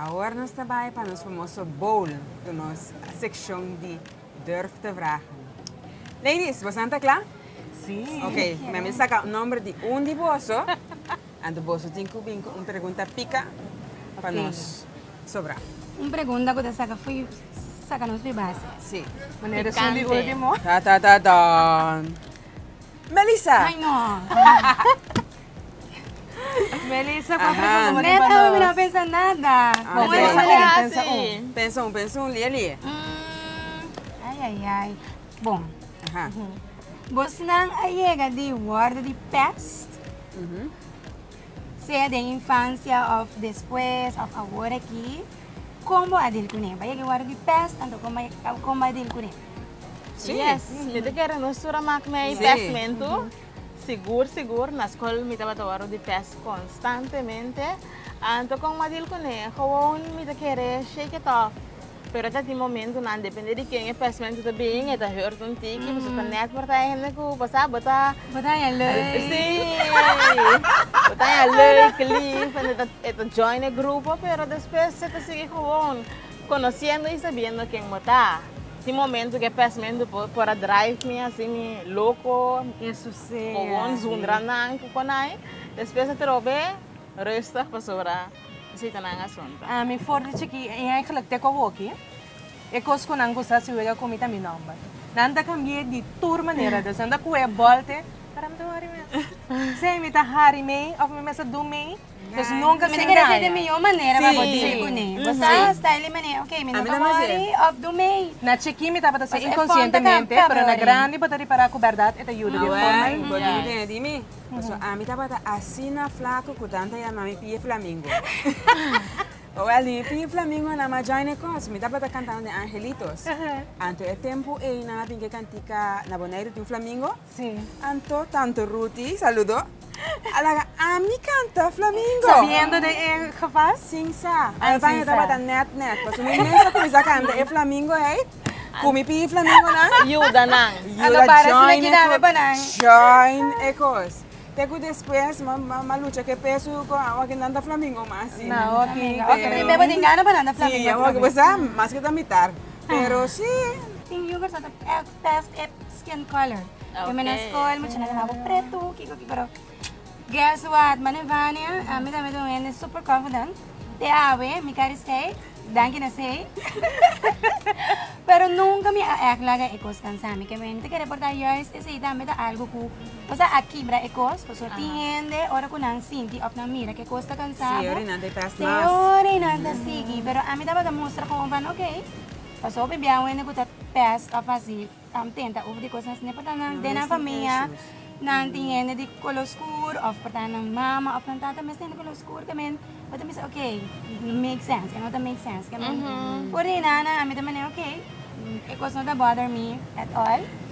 Awor nos ta bai pa nos famoso bowl ku nos sekshon di Durf te vragen. Ladies, bosan ta kla? Sí. Ok, mi a bin saka un nomber di un di boso, anto boso tin ku bin ku un pregunta pika pa nos sobra. Un pregunta ku ta saka fo'i saka nos fo'i base. Sí. Mane e reson di ultimo? Ta ta ta tan. Melissa! Ay no! Melissa, pa presa sa bo tin pa nos. Nel, mi no a pensa nada. Bon, pensa un, pensa un. Pensa un, pensa un, lia, lia. Ay, ay, ay. Bon. Bosnan a yega di worde di pèst, sea den infansia òf despues òf awor aki. Kon bo a dil kuné? Bo a yega di worde di pèst, anto kon bo a dil kuné? Yes, mi ta kere nos tur a mak mei pèstmentu. Sigur sigur, na skol mi tabata wòrdu di pes konstantemente. Anto kon ma dil kuné? Gewoon mi ta kere shake it off. Pero ta tin momentunan, depende di ken e pesmento ta bin, e ta hurt un tiki, pasobra ta nèt por ta hende ku bo sa bo ta, Bo ta haña lei. Sí, bo ta haña lei, cleave, e ta join e grupo, pero despues e ta sigui gewoon. Conociendo y sabiendo ken bo ta. Tin momento cu e pesmento por a drive mi haci mi loco, cogon zundra nan cu conai. Despues atrobe rustig pasobra esitanan asunta. A mi for di chiki y eigenlijk te cu hoki e cos cu nan gusta haci wega cu mi ta mi nomber. Nan ta cambie di tur manera dus. Nan ta coge e bal te, pero mi ta worry mes. Sea mi ta hari mee of mi mester do mee. Pues nunca sin daña. Mi mijo manera pa bo deal cu ne. Bo sa hasta e manera, ok, mi no ta wori of do mee. Na chiquin mi tabata haciendo inconscientemente, pero na grandi bo ta repara cu berdad e ta yuda di un forma ayi. Bo di mi den, e di mi. Paso ami tabata asina flaco cu Dan ta yama mi pie flamingo. Owel di mi pie flamingo na ma join e cos. Mi tabata cantando den Angelitos. Anto e tempo ey nan a bin cu e cantica Na Bonaire tin un flamingo. Sí. Anto tanto Ruti saludo. A laga ami canta Flamingo. Sabiendo de e geval? Sin sa. Ai bai a tabata net net. Paso mi mester cuminsa canta e Flamingo ei. Cu mi pidi Flamingo nan. Yuda nan. Yuda join e cos. Join e cos. Te cu despues m'a lucha cu e peso cu awa cu nan ta Flamingo mas. Na hopi. Hopi mi beba den gana pa nan ta Flamingo. Sí, hopi bo sa mas cu ta mitar. Pero sí. Tin yugers nan ta test e skin color Wen mi na school mi china lama bo preto kiko kiko pero guess what mane Vania a mi tambe ta un hende super confident te awe mi ka risei danki na sei pero nunca mi a echt laga e cos cansa mi mi ta kere porta juist esei tambe ta algo cu cosa a kibra e cos pasobra tin hende ora cu nan sinti of nan mira cu e cos ta cansa bo seori nan ta sigi pero a mi tabata mustra como van oke Paso hopi biaha wende ku ta pes of asi am tenta uf di kosnan ne por ta nan den nan famia nan tin hende di kolo skur of por ta nan mama of nan tata mes tin hende kolo skur ke men bo ta bisa oke no make sense e no ta make sense ke men por di nan nan ami ta mane oke e kos no ta bother mi at all.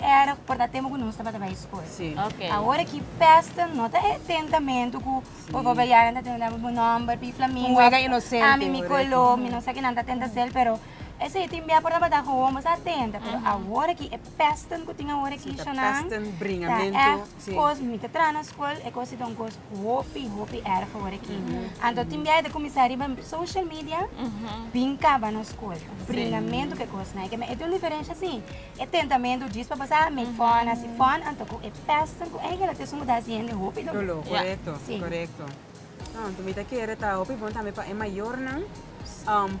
Erg por ta tempo cu nos tabata bay school. Sí. Okay. Ahora ki pesten no ta e tentamentu cu sí. por favor yaran ta tenta mi nomber pi flamingo. Huega inocente. Ami mi color, mi no sa kinan ta tenta sel, pero ese tin bia por tabata gewoon bosa tenta. Pero uh -huh. ahora ki e pesten cu tin ahora ki sí, shanan. Pesten bringamento. Ta erg sí. cos mi ta tra na school, e cos ta un cos hopi, hopi erg ahora ki. Uh -huh. Anto tin bia ta comenzar riba social media, uh -huh. bin caba na school. Bringamento sí. que cos na. E tem un diferencia sí. E tentamentu djis pa pasá mi fòn, hasi fòn, anto ku e pèsten ku Engel a tes muda hasi hende hopi doló. Korekto, korekto. Anto mi ta kere ta hopi bon tambe pa e mayornan,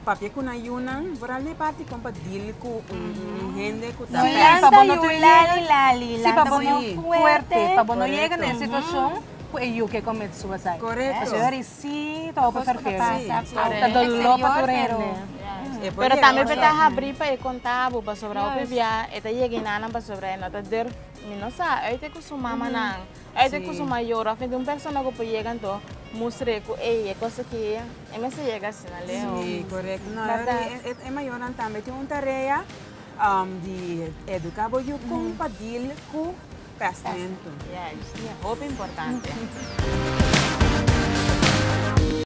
papia ku nan yunan, por a lei parti kon pa dil ku un hende ku ta pèst. Lanta yu lali lali, lanta bo no fuerte, pa bo no yega na e situashon ku e yu ke kometsó asai. Korekto. Si ta open per tur hende. Ta dolor pa tur hende. Pero tambe por ta habri pa e kontabu pasobra hopi bia e ta yega i nanan pasobra e no ta durf mi no sa ùit ku su mamanan ùit ku su mayor òf mente un persona ku por yega anto mustra e ku ey e kos aki e mester yega asina leu. Si correcto no e mayornan tambe tin un tarea di educa bo yu kon pa deal ku. Presento. Yes, hopi importante.